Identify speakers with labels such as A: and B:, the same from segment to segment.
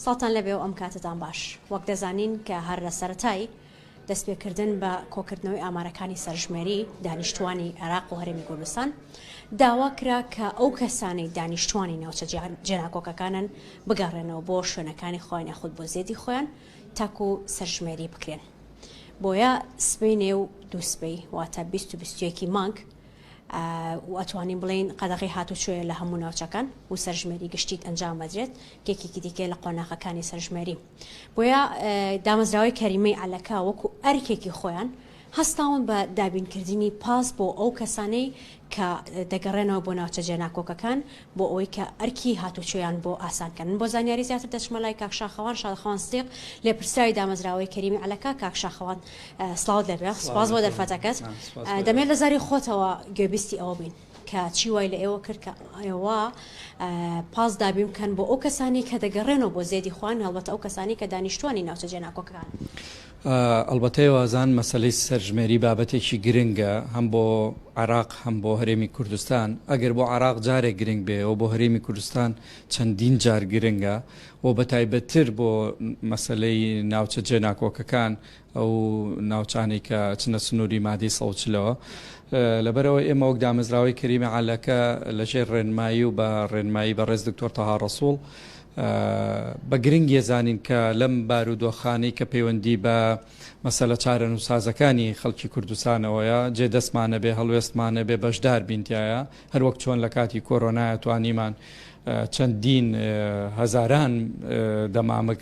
A: ساڵتان لەبێ و ئەم کاتەتان باش. وەک دەزانین کە هەر لە سەرەتای دەست پێ کردن بە کۆکردنەوەی ئامارەکانی سەرژمێری دانیشتووانی عێراق و هەرێمی کوردستان داوا کرا کە ئەو کەسانەی دانیشتووانی ناوچە جێناکۆکەکانن بگەڕێنەوە بۆ شوێنەکانی خۆیان یاخود بۆ زێدی خۆیان تاکو سەرژمێری بکرێن. بۆیە سبەینێ و دوو سبەی واتە بیست و بیست و یەکی مانگ و ئەتوانین بڵێین قەدەغەی هاتوچۆیە لە هەموو ناوچەکان و سەرژمێری گشتیت ئەنجام بدرێت یەکێکی دیکەی لە قۆناغەکانی سەرژمێری بۆیە دامەزراوەی کەریمەی عەلەکە وەکو ئەرکێکی خۆیان هەستاون بە دابینکردنی پاس بۆ ئەو کەسانەی کە دەگەڕێنەوە بۆ ناوچە جێناکۆکەکان بۆ ئەوەی کە ئەرکی هاتوچۆیان بۆ ئاسان کەن. من بۆ زانیاری زیاتر دەچمە لای کاک شاخەوان شاخەوان سدیق لێپرسراوی دامەزراوەی کەریمی عەلەکە کاک شاخەوان سڵاوت لێ بێ سوپاس بۆ دەرفەتەکەت دەمەوێت لە زاری خۆتەوە گوێبیستی ئەوە بین کە چی وای لە ئێوە کرد کە ئێوە پاس دابین بکەن بۆ ئەو کەسانی کە دەگەڕێنەوە بۆ زێدی خوان هەڵبەتە ئەو کەسانی کە دانیشتوانی ناوچە جێناکۆکەکان.
B: ئەڵبەتە ئێوازان مەسەلەی سەرژمێری بابەتێکی گرنگە هەم بۆ عێراق هەم بۆ هەرێمی کوردستان، ئەگەر بۆ عێراق جارێک گرنگ بێ ئەوە بۆ هەرێمی کوردستان چەندین جار گرنگە و بەتایبەتتر بۆ مەسەلەی ناوچە جێناکۆکەکان ئەو ناوچانەی کە ئەچنە سنووری مادەی سەد و چلەوە لەبەرئەوەی ئێمە وەک دامەزراوەی کەریمە عەلەکە لەژێر ڕێنمایی و بە ڕێنمایی بەڕێز دکتۆر تەها ڕەسووڵ بە گرنگیە زانین کە لەم بارودۆخانەی کە پەیوەندی بە مەسەلە چارەنوسازەکانی خەڵکی کوردستانەوەیە، جێ دەستمان نەبێ، هەڵوێستمان نەبێ، بەشدار بین تیایا، هەروەک چۆن لە کاتی کۆرۆنایە توانیمان چەندین هەزاران دەمامک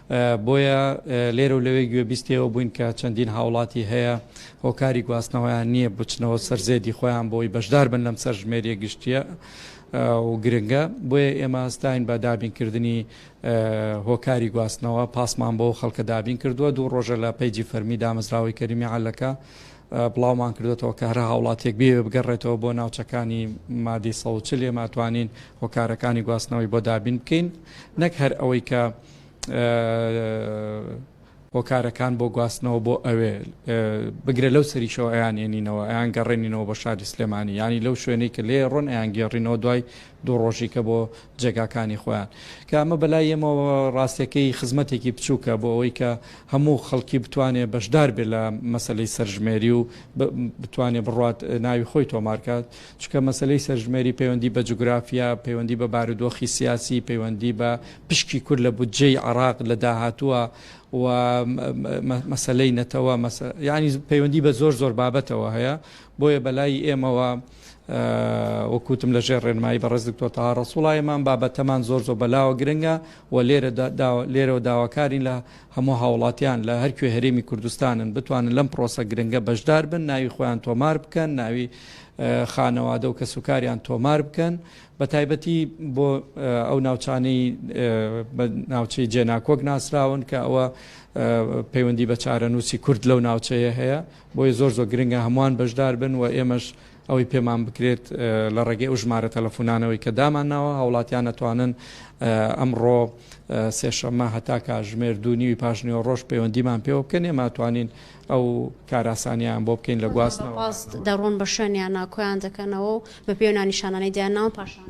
B: بۆیە لێرە و لەوێ گوێبیستی ئەوە بووین کە چەندین هاوڵاتی هەیە هۆکاری گواستنەوەیان نییە بچنەوە سەر زێدی خۆیان بۆی بەشدار بن لەم سەر ژمێریە گشتیە و گرنگە بۆیە ئێمە ستاین بە دابینکردنی هۆکاری گواستنەوە پاسمان بۆ خەڵکە دابین کردووە دوو ڕۆژە لە پەیجی فەرمی دامەزراوەی کەریمی عەلەکە بڵاومان کردێتەوە کە هەرە هاوڵاتێک بێ بگەڕێتەوە بۆ ناوچەکانی مادی سەوچل لێماتوانین هۆکارەکانی گواستنەوەی بۆ دابین بکەین نەک هەر ئەوەی کە هۆکارەکان بۆ گواستنەوە بۆ ئەوێ بگرە لەو سەریشەوە ئەیان ێنینەوە ئەیان گەڕێنینەوە بە شاری سلێمانی ینی لەو شوێنەی کە لێ ڕۆن ئەیان گێڕینەوە دوای دوو ڕۆژیکە بۆ جێگاکانی خۆیان کە ئەمە بەلای ئێمە ڕاستەکەی خزمەتێکی بچووکە بۆ ئەوەی کە هەموو خەڵکی بتوانێت بەشدار بێت لە مەسلەی سەرژمێری و بتوانێت بڕات ناوی خۆی تۆمارکات چونکە مەسەلەی سەرژمێری پەیوەندی بە جوگرافیا، پەیوەندی بە بارودۆخی سیاسی، پەیوەندی بە پشکی کورد لە بودجەی عێراق لە داهاتووە و مەسەلەی نەتەوە، یانی پەیوەندی بە زۆر زۆر بابەتەوە هەیە، بۆیە بەلای ئێمەوە وەک وتم لەژێر ڕێنمایی بەڕێز دکتۆر تەها ڕەسوڵا ئێمان بابەتەمان زۆر زۆر بەلاوە گرنگە و لێرەوە داواکارین لە هەموو هاوڵاتیان لە هەرکوێ هەرێمی کوردستانن بتوانن لەم پرۆسە گرنگە بەشدار بن ناوی خۆیان تۆمار بکەن ناوی خانەوادە و کەسوکاریان تۆمار بکەن بە تایبەتی بۆ ئەو ناوچانەی بە ناوچەی جێناکۆک ناسراون کە ئەوە پەیوەندی بە چارەنووسی کورد لەو ناوچەیە هەیە بۆیە زۆر زۆر گرنگە هەمووان بەشدار بن و ئێمەش ئەوەی پێمان بکرێت لە ڕێگەی ئەو ژمارە تەلەفۆنانەوەی کە دامان ناوە هاوڵاتیان نەتوانن ئەمڕۆ سێشەمە هەتا کاژمێر دوو نیوی پاشنیوە ڕۆژ پەیوەندیمان پێوە بکەن ێماتوانین ئەو کاراسانیان بۆ بکەین لە گواستنەوە. ڕۆژانە بە پاس دەڕۆن بە
A: شوێنیانا کۆیان دەکەنەوە و بە پێ و نانیشانانەی دەیان ناون پاشان.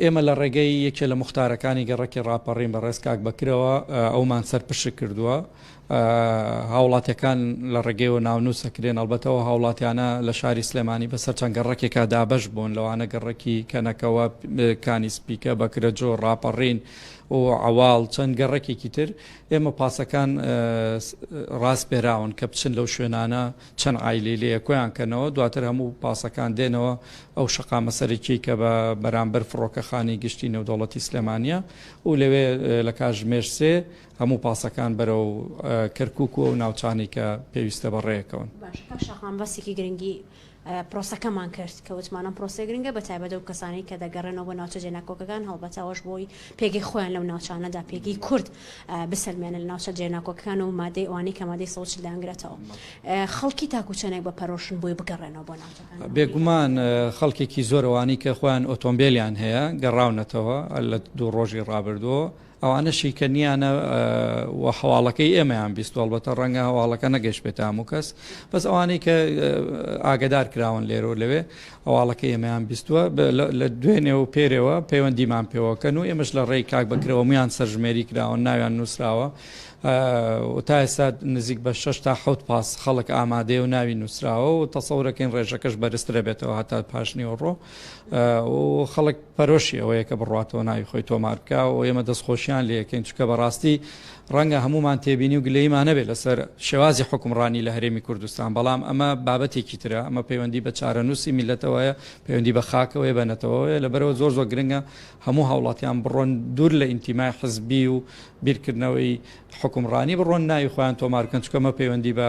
A: ئێمە لە ڕێگەی
B: یەکێ لە موختارەکانی گەڕەکی ڕاپەڕین بە ڕێز کاک بەکرەوە ئەومان سەر پشک کردووە. هاوڵاتیەکان لە ڕێگەیەوە ناونووس ئەکرێن، ئەڵبەتە ئەو هاوڵاتیانە لە شاری سلێمانی بە سەر چەند گەڕەکێکا دابەش بوون لەوانە گەڕەکی کەنەکەوە، کانی سپیکە، بەکرەجۆ، ڕاپەڕین و عەواڵ چەند گەڕەکێکی تر. ئێمە پاسەکان راسپێراون کە بچن لەو شوێنانە چەند عایلەی لێیە کۆیان کەنەوە دواتر هەموو پاسەکان دێنەوە ئەو شەقامە سەرەکیەی کە بە بەرامبەر فڕۆکەخانی گشتی نێودەوڵەتی سلێمانیە و لەوێ لە کاژمێر سێ هەموو پاسەکان بەرەو کەرکک و ئەو ناوچانی کە پێویستە بە ڕێکەون. باش کاک شاقان
A: باسێکی گرنگی پرۆسەکەمان کرد، کە وتمان ئەم پرۆسەیە گرنگە بە تایبەت ئەو کەسانەی کە دەگەڕێنەوە بۆ ناوچە جێناکۆکەکان هەڵبەتە ئەوەش بۆ ئەوەی پێگەی خۆیان لەو ناوچانەدا پێگەی کورد بسەلمێنن لە ناوچە جێناکۆکەکان و مادەی ئەوانەی کە مادەی سەد و چل دانگرێتەوە خەڵکی تاکو چەندێک بە پەرۆشن بۆی بگەڕێنەوە بۆ ناوچەکان بێگومان
B: خەڵکێکی زۆرەوانی کە خۆیان ئۆتۆمبیلیان هەیە گەڕاونەتەوە لە دوو ڕۆژی ڕابردووە ئەوانە شیکەنیانە و هەواڵەکەی ئێمەیان بیست هەڵبەتە ڕەنگە هەواڵەکە نەگەشت بێت هەموو کەس بەس ئەوانەی کە ئاگدار کراون لێرە و لەوێ هەواڵەکە ئێمەیان بیستوە لە دوێنێ و پێرەوە پەیوەندیمان پێوەکەن و ئێمەش لە ڕێی کاک بکرەوە میان سەرژمێری کراون ناویان نووسراوە تا ئێستا نزیک بە 6 تا حوت پاس خەڵک ئامادەێ و ناوی نووسراوە و تەسەورەکەین ڕێژەکەش بەرزترە بێتەوە هەتا پاشنیوەڕۆ و خەڵک پەرۆشی ئەوەیە کە بڕاتەوە ناوی خۆی تۆمار بکە و ئێمە دەستخۆشیان لەکەین چکە بەڕاستی ڕەنگە هەمومان تێبینی و گلەیمانەبێت لەسەر شێوازی حکومڕانی لە هەرێمی کوردستان بەڵام ئەمە بابەتێکی ترە ئەمە پەیوەندی بە چارەنووسی میلەتەوەیە پەیوەندی بە خاکەوەی بەنەتەوەیە لەبەرەوە زۆر زۆر گرنگە هەموو هاوڵاتیان بڕۆن دوور لە ئینتیمای حزبی و بیرکردنەوەی حکومڕانی بڕۆن ناوی خۆیان تۆمارکەن چکەمە پەیوەندی بە